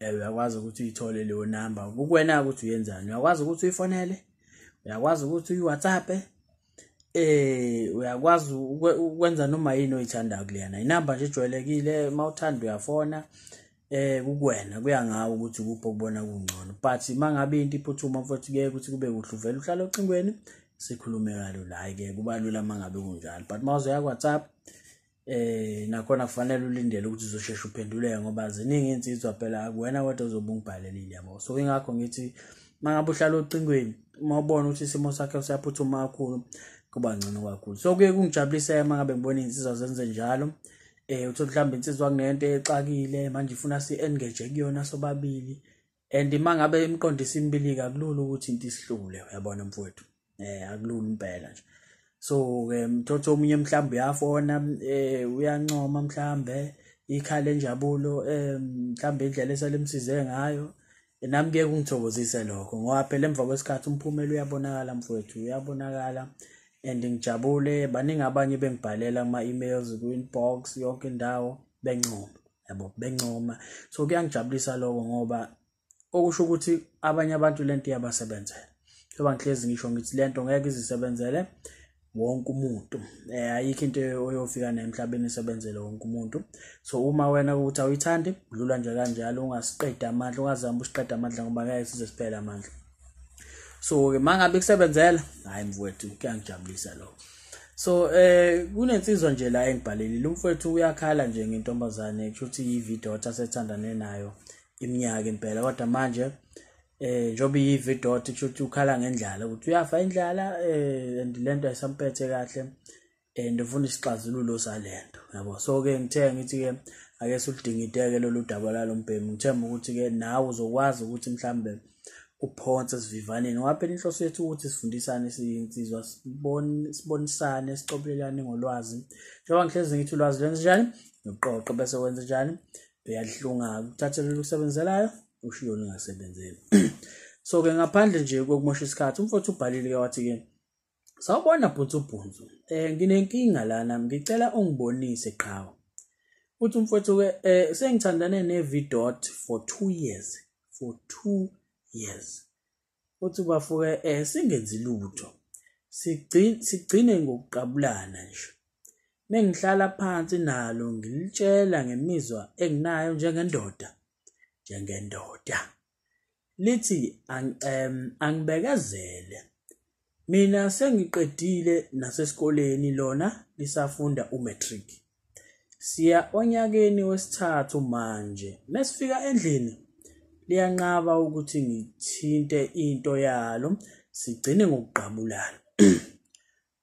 Eh, uyakwazi ukuthi uyithole leyo namba kukwena ukuthi uyenzani uyakwazi ukuthi uyifonele uyakwazi ukuthi uyi-whatsapp eh uyakwazi ukwenza noma yini oyithandayo kuleyana inamba nje ejwayelekile uma uthanda uyafona eh kukwena kuya ngawe ukuthi kuphi okubona kungcono but uma ngabe into iphuthuma mfowethu kuye ukuthi kube kuhle uvele uhlale ocingweni sikhulume kalo la-ke kuba lula uma ngabe kunjalo but uma uzoya ku-whatsapp eh nakhona kufanele ulindele ukuthi uzosheshe uphenduleke ngoba ziningi insizwa phela akuwena wedwa ozobe ungibhalelile yabo so ingakho ngithi mangabe uhlala ocingweni uma ubona ukuthi isimo sakhe siyaphuthuma kakhulu kuba ngcono kakhulu so kuye kungijabulise mangabe ngibona insizwa zenze njalo eh uthi mhlawumbe insizwa kunento exakile manje ifuna si engage kuyona sobabili and mangabe imqondisa imbilika akulula ukuthi into isihlule uyabona mfowethu eh akulula impela nje so ke mthotho omunye mhlawumbe uyafona eh uyancoma mhlawumbe ikhala enjabulo eh mhlawumbe indlela esalemsize ngayo nami kuye kungithokozise lokho ngoba phela emva kwesikhathi umphumela uyabonakala mfowethu uyabonakala and ngijabule baningi abanye bengibhalela ama-emails kwi-inbox yonke indawo bencoma yabo bencoma so kuyangijabulisa lokho ngoba okusho ukuthi abanye abantu le nto iyabasebenzela njengoba ngihlezi ngisho ngithi le nto ngeke izisebenzele wonke umuntu um ayikho into oyofika nayo emhlabeni isebenzele wonke umuntu so uma wena ukuthi awuyithandi dlula nje kanjalo ungasiqedi amandla ungazami usiqeda amandla ngoba ngeke size siphele amandla so ke mangabe kusebenzela hayi mfowethu kuyangijabulisa lokho so eh kunensizwa nje la engibhalelile umfowethu uyakhala nje ngentombazane kushuthi yividota asethandane nayo iminyaka impela kodwa manje eh njobe yividota kushuthi ukhala ngendlala ukuthi uyafa indlala eh and lento ayisamphethe kahle and ufuna isixazululo salento yabo so ke ngithe ngithi ke ake suludingideke lolu daba lalombhemu ngithemba ukuthi ke nawe uzokwazi ukuthi mhlambe uphonse sivivaneni waphela inhloso yethu ukuthi sifundisane siyinsizwa sibonisane sicobelelane ngolwazi njengoba ngihlezi ngithi ulwazi lwenza njani noqoqo bese wenza njani uyahlunga uthathe lolu kusebenzelayo ushiyo lingasebenzeli so-ke ngaphandle nje kokumosha isikhathi umfowethu ubhalile-ke wathi-ke Sawubona bhuti ubhunzu. Eh nginenkinga lana ngicela ungibonise qhawe. Uthi umfowethu ke eh sengithandane ne Vidot for 2 years. For 2 years. Uthi bafuke eh singenzi lutho. Sigcine sigcine ngokuqabulana nje. Mengihlala phansi nalo ngilitshela ngemizwa enginayo njengendoda. Njengendoda. lithi angibekezele mina sengiqedile nasesikoleni lona lisafunda umatric siya onyakeni wesithathu manje mesifika endlini liyanqaba ukuthi ngithinte into yalo sigcine ngokugqabulana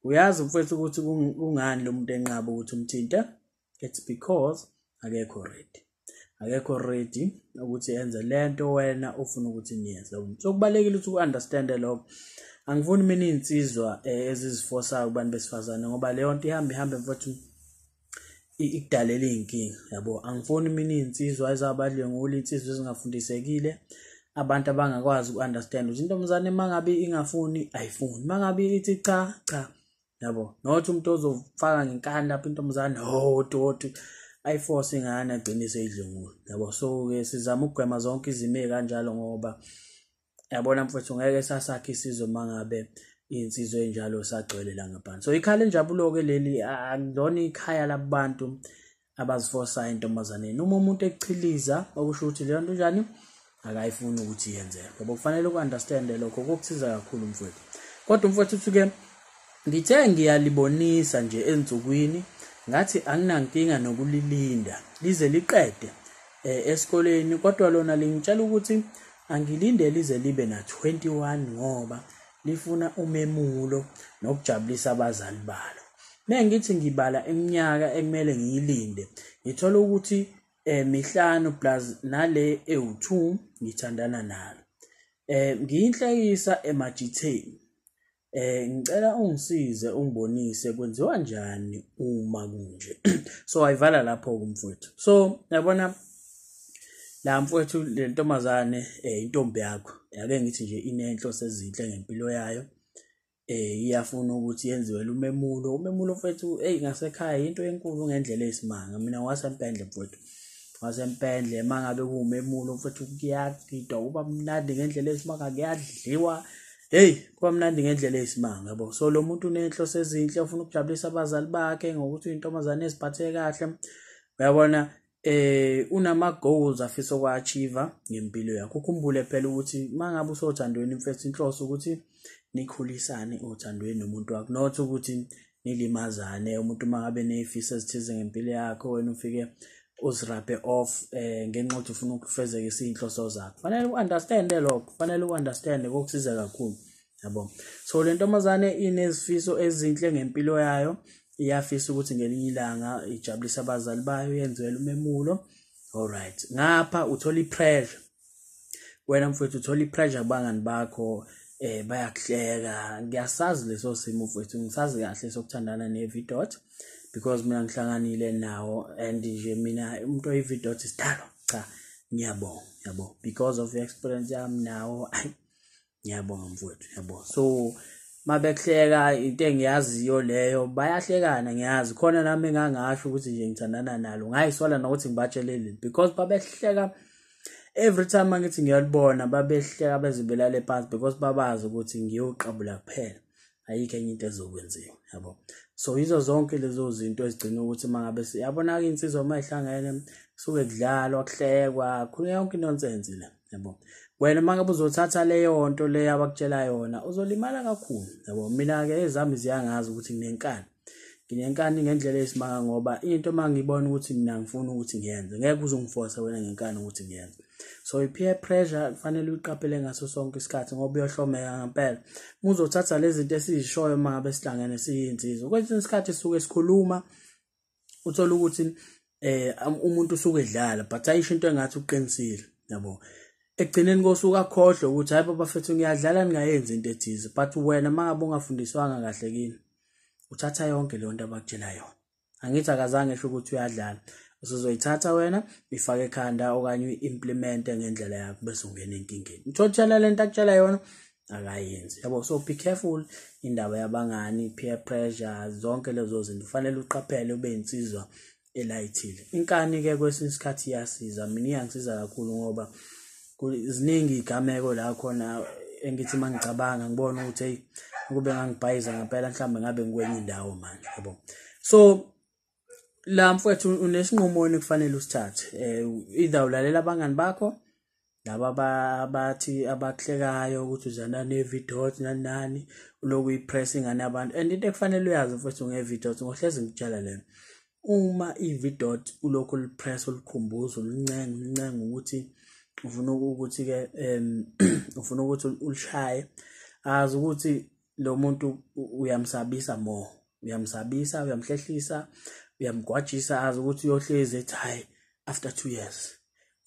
uyazi mfethu ukuthi kungani lo muntu enqaba ukuthi umthinte it's because akekho ready akekho ready ukuthi enze lento wena ufuna ukuthi niyenze so kubalekile ukuthi uunderstand lokho angifuni mina izinsizwa eh, ezizifosayo kubantu besifazane ngoba leyo nto ihamba ihamba mfowethu ikudalela izinkinga yabo angifuni mina izinsizwa ezabadlwengula insizwa ezingafundisekile abantu abangakwazi uunderstand ukuthi intombazane mangabe ingafuni ayifuni mangabe ithi cha cha yabo not umuntu ozofaka ngenkani lapho intombazane hoti oh, hoti ayiforce ingane agcine seyidlungula yabo so ke sizama ukugwema zonke izimo ezikanjalo ngoba yabona mfowethu ngeke sasakhe isizwe mangabe insizwe enjalo sagcwele la ngaphansi so ikhala enjabulo ke leli akulona ikhaya labantu abazifosayo entombazaneni uma umuntu ekuchiliza okusho ukuthi leyo nto njani akayifuni ukuthi yenzeke ngoba kufanele uku-understande lokho kokusiza kakhulu mfowethu kodwa umfowethu uthuke ngithe ngiyalibonisa nje ensukwini ngathi anginankinga nokulilinda lize liqede eh, esikoleni kodwa lona lingitshela ukuthi angilinde lize libe na-21 ngoba lifuna umemulo nokujabulisa abazali balo mengithi ngibala iminyaka ekumele ngiyilinde ngithola ukuthi eh mihlanu plus nale ewu2 ngithandana nalo eh ngiyinhlekisa emajitheni eh ngicela ungisize ungibonise kwenziwa njani uma kunje so ayivala lapho kumfowethu so yabona la mfowethu le ntombazane eh intombi yakho yake ngithi nje inenhlo sezinhle ngempilo yayo eh iyafuna ukuthi yenziwe lumemulo umemulo mfowethu hey ngasekhaya into enkulu ngendlela eyisimanga mina wasempendle mfowethu wasempendle mangabe kuwumemulo mfowethu kuyagidwa uba mnandi ngendlela eyisimanga kuyadliwa hey kuba mnandi ngendlela eyisimanga yabo so lo muntu unenhlo sezinhle ufuna ukujabulisa abazali bakhe ngokuthi uyintombazane eziphathe kahle uyabona eh unama goals afisa ukwachiva ngempilo yakho ukhumbule phela ukuthi mangabe usothandweni mfethu inhloso ukuthi nikhulisane othandweni nomuntu wakho not ukuthi nilimazane umuntu mangabe nezifiso ezithize ngempilo yakho wena ufike uzirape off eh ngenxa ukuthi ufuna ukufezeka izinhloso zakho fanele uunderstand lokho fanele uunderstand kokusiza kakhulu yabo so le ntombazane inezifiso ezinhle ngempilo yayo iyafisa ukuthi ngelinye ilanga ijabulise abazali bayo yenziwele umemulo alright ngapha uthola ipressure wena mfowethu uthola ipressure kubangani bakho eh bayakuhleka ngiyasazi leso simo mfowethu ngisazi kahle sokuthandana nevidot because mina ngihlanganile nawo and nje mina umuntu oyividot isidalo cha ngiyabonga yabo because of experience yami nawo ayi ngiyabonga mfowethu ngiyabonga so mabehleka into engiyaziyo leyo bayahlekana ngiyazi khona nami engangasho ukuthi nje ngithandana nalo ngayisola nokuthi ngibatshelele because babehleka every time angithi ngiyalibona babehleka bezibelale phansi because babazi ukuthi ngiyoqabula kuphela ayikho enye into ezokwenziwa yabo so yizo zonke lezo zinto ezigcina ukuthi uma ngabe yabona-ke insizwa uma ihlangene kusuke kudlalwa kuhlekwa khona yonke inonsense le yabo wena uma ngabe uzothatha leyo nto leyo abakutshela yona uzolimala kakhulu yabo mina-ke ezami ziyangazi ukuthi nginenkani nginenkani ngendlela esimanga ngoba into uma ngibona ukuthi mina ngifuna ukuthi ngiyenze ngeke uze ungiforce wena ngenkani ukuthi ngiyenze so i-peer pressure kufanele uyiqaphele ngaso sonke isikhathi ngoba uyohlomeka ngempela muzothatha lezi zinto esizishoyo uma ngabe sihlangene siyinsizwa kwesinye isikhathi sisuke sikhuluma uthola ukuthi eh umuntu usuke edlala but ayisho into engathi uqinisile yabo ekugcineni kosuku akhohlwe ukuthi hayi baba fethu ngiyadlala ningayenzi into ethize but wena mangabe ungafundiswanga kahle kini uthatha yonke leyo nto abakutshela yona angithi akazange esho ukuthi uyadlala usuzoyithatha wena ifake ekhanda okanye uyi-implemente ngendlela yakho bese ungena enkingeni uthotshela le nto akutshela yona akayenzi yabo so be careful indaba yabangani peer pressure zonke lezo zinto kufanele uqaphele ube insizwa elayithile inkani ke kwesinye isikhathi iyasiza mina iyangisiza kakhulu ngoba ziningi igameko la khona engithi mangicabanga ngibona ukuthi hey ukube ngangibhayiza ngempela mhlawumbe ngabe ngikwenye indawo manje yabo so la mfowethu unesinqumo wena kufanele usithathe um either ulalela abangani bakho laba abathi abakuhlekayo ukuthi uzana ne-videos nani nani uloku uyipress ingane yabantu and into ekufanele uyazi mfowethu nge-videos ngohlezi ngikutshela lena uma i-vidot ulokhu ulipress ulikhumbuza ulincenga ulincenga ukuthi ufuna ukuthi-ke um ufuna ukuthi ulishaye azi ukuthi lo muntu uyamsabisa more uyamsabisa uyamhlehlisa uyamgwajisa azi ukuthi uyohlezi ethi hhayi after two years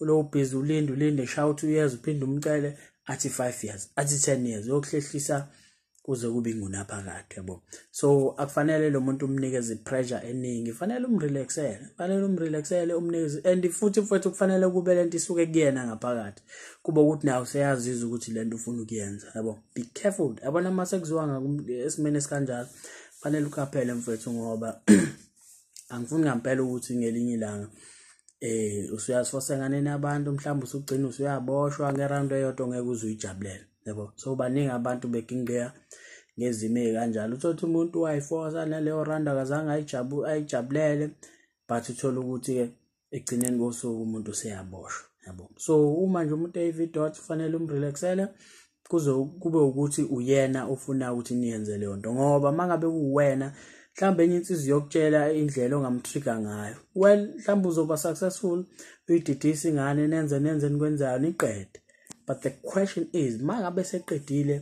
uloku busy ulinde ulinde shaya u-two years uphinde umcele athi five years athi ten years uyokuhlehlisa kuze kube ingunaphakade yabo so akufanele lo muntu umnikeze pressure eningi kufanele umrelaxele kufanele umrelaxele umnikeze and futhi mfowethu kufanele kube lento isuke kuyena ngaphakathi kuba ukuthi naye useyazizwa ukuthi lento ufuna ukuyenza yabo be careful yabona uma sekuziwa esimeni esikanjalo fanele uqaphele mfethu ngoba angifuni ngampela ukuthi ngelinye ilanga eh usuyazifosenganeni abantu mhlawumbe usugcina usuyaboshwa ngeround eyodwa ongeke uze uyijabulele yebo so baningi abantu begingqeya ngezimo ezikanjalo uthola umuntu wayifosa naleyo round akazange ayijabulele but uthola ukuthi ke ekugcineni kosuku umuntu useyaboshwa yabo so uma nje umuntu eyivi dot kufanele umrelaxele kuze kube ukuthi uyena ofuna ukuthi niyenze leyo nto ngoba uma ngabe kuwena mhlawumbe enye insizi yokutshela indlela ongamtrigger ngayo well mhlawumbe uzoba successful uyididise ingane nenze nenze nikwenzayo niqede but the question is uma ngabe seqedile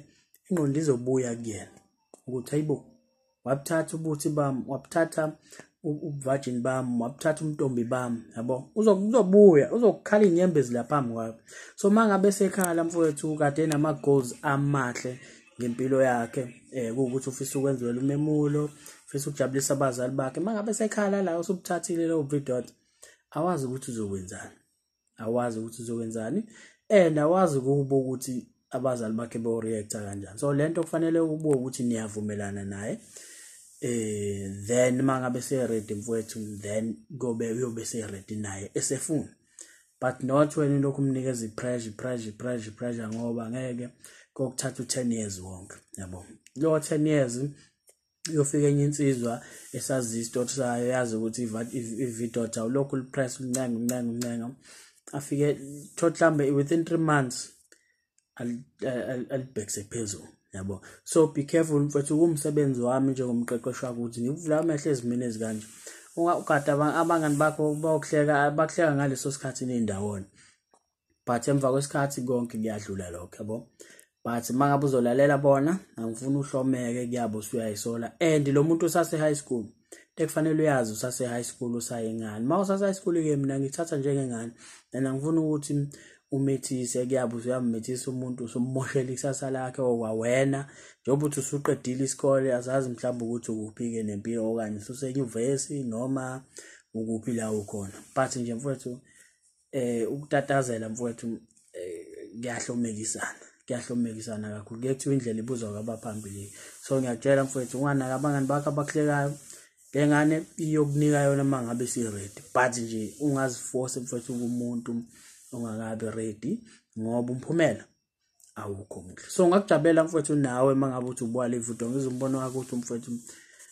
ingqondo izobuya kuyena ukuthi hayibo wabuthatha ubuthi bami wabuthatha ubuvajini bami wabuthatha umntombi bami yabo uzobuya uzokukhala iy'nyembe ezilaphambi kwayo so uma ngabe sekhala mfowethu kade nama-goals amahle ngempilo yakhe um kuwukuthi ufisa ukwenziwela umemulo ufisa ukujabulisa abazali bakhe uma ngabe sekhala la usubuthathile lowo bridot awazi ukuthi uzokwenzani awazi ukuthi uzokwenzani and awazi kubo ukuthi abazali bakhe beyoreacta kanjani so lento kufanele ubuke ukuthi niyavumelana naye eh then mangabe seready mfowethu then kobe uyobe seready naye esefuna but not wena lokhu umnikeza ipressure pressure pressure pressure ngoba ngeke kokuthatha u10 years wonke yabo lo 10 years yofika enye insizwa esazi isitoti sayo yazi ukuthi ividota ulokhu lipress uncenga uncenga uncenga afike thoth mhlawumbe within three months alibhekise phezulu yabo so be careful mfethu kumsebenzi wami njengomqeqeshi wakuthi ngikuvula amehlo ezimini ezikanje ungakade abangani bakho bayokuhleka bakuhleka ngaleso sikhathi nindawona but emva kwesikhathi konke kuyadlula lokho yabo but uma ngabe uzolalela bona angifuni uhlomeke kuyabo usuyayisola and lo muntu usase-high school ekufanele uyazi usase-high school usayengane uma usase-high school-ke mina ngithatha njengengane and angifuni ukuthi umethise kuyabe usuyamumethisa umuntu usummoshela ikusasa lakhe okwawena njengoba uthi usuqedile isikole azazi mhlawumbe ukuthi ukuphi-ke nempilo okanye ususenyuvesi noma ukuphi la ukhona but nje mfowethu eh ukutatazela mfowethu eh, kuyahlomekisana kuyahlomekisana kakhulu kuyethiwa indlela ibuzwa kwabaphambili so ngiyakutshela mfowethu unganaka abangani bakho abakuhlekayo le ngane iyokunika yona uma ngabe si-ready but nje ungaziforce mfowethu kumuntu ongakabi ready ngoba umphumela awukho muhle so ngakujabulela mfowethu nawe uma ngabe uthi ubuka le video ngizwe umbono wakho ukuthi umfowethu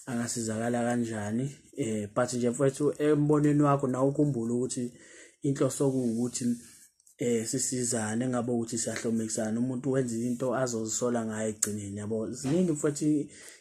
angasizakala kanjani eh but nje mfowethu embonweni wakho nawe ukhumbule ukuthi inhloso kuwukuthi eh sisizane ngabe ukuthi siyahlomekisana umuntu wenza into azozisola ngayo egcineni yabo ziningi futhi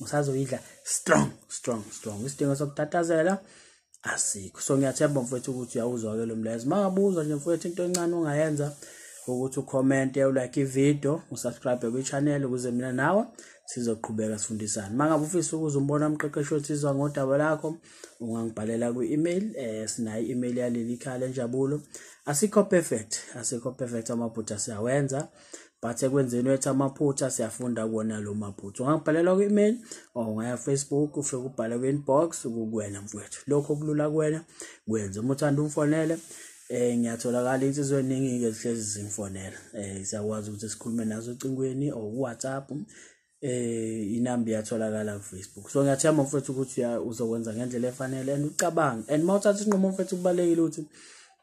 usazoyidla strong strong strong isidingo sokutatazela asikho so ngiyathemba mfowethu ukuthi uyawuzwa-ke lo mlayezo uma ngabuzwa nje mfowethu into encane ongayenza ukuthi ukhomente ulike ividiyo usubscribe kwi-channel ukuze mina nawe sizoqhubeka sifundisane uma ngabe ufisa ukuze umbona umqeqeshi othizwa ngodaba lakho ungangibhalela kwi-email um eh, sinayo i-email yaleli khaya lenjabulo asikho perfect asikho perfect amaphutha siyawenza but ekwenzeni wethu amaphutha siyafunda kuwona lo maphutha ungabhalelwa kwi-email or ungaya facebook ufike ubhale kwi-inbox kukuwena mfowethu lokho kulula kuwena kwenze uma uthanda umfonele eh ngiyatholakala insizwa eningi ke zihlezi zimfonela eh siyakwazi ukuthi sikhulume nazo ocingweni or WhatsApp eh inamba iyatholakala ku Facebook so ngiyathemba mfethu ukuthi uzokwenza ngendlela efanele and ucabange and mawuthatha isinqumo mfethu kubalekile ukuthi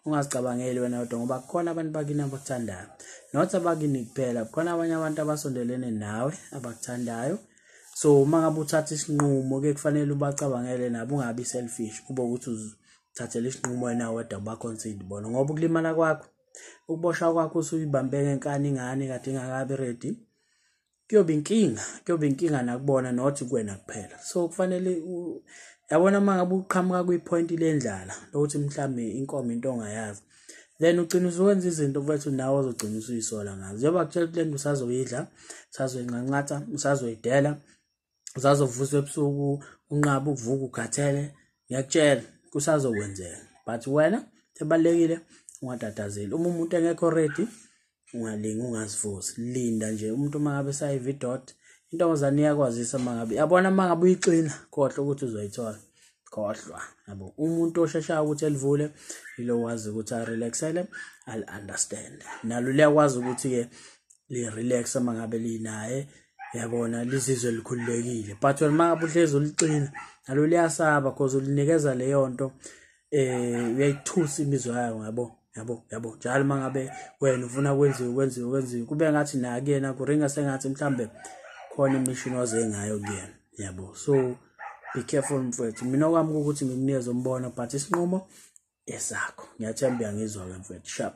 ungazicabangeli wena kodwa ngoba kukhona abantu bakini abakuthandayo not abakini kuphela kukhona abanye abantu abasondelene nawe abakuthandayo so uma ngabe uthatha isinqumo ke kufanele ubacabangele nabo ungabi selfish kube ukuthi uzithathele isinqumo wena wedwa ubaconsider bona ngoba ukulimala kwakho ukuboshwa kwakho usuyibambe ngenkani ingane kade ingakabi ready kuyoba inkinga kuyoba inkinga nakubona not kuwena kuphela so kufanele yabona uma ngabe uqhamuka kwi-point lendlala lokuthi mhlawumbe inkomo into ongayazi then ugcina usuwenza izinto mfethu nawe ozogcina usuyisola ngazo njengoba kutshela ukuthi le nto usazoyidla usazoyinqanqatha usazoyidela zazovuswa ebusuku unqaba ukuvuka ukhathele ngiyakutshela kusazokwenzeka but wena ebalekile ungatatazeli uma umuntu engekho ready ungalingi ungazivusi linda nje umuntu uma ngabe sayive idot intombazane iyakwazisa uma ngabe yabona uma ngabe uyixina khohlwa ukuthi uzoyithola khohlwa yabo umuntu osheshayo ukuthi elivule yilo wazi ukuthi arelaxele ali-understand nalo liyakwazi ukuthi-ke li-relax uma ngabe linaye yabona lizizwe likhululekile but wena uma ngabe uhlezi uliqina nalo liyasaba cause ulinikeza leyo nto um uyayithusa imizwa yayo ngabo yabo yabo njalo uma ngabe wena ufuna kwenziwe kwenziwe kwenziwe kube ngathi nakuyena kuringa sengathi mhlawumbe khona imishini oze ngayo kuyena yabo so be careful mfwethu mina okwami ukuthi ngikunikeze umbono but isinqumo esakho ngiyathemba uyangizwa-ke mfwethu sharp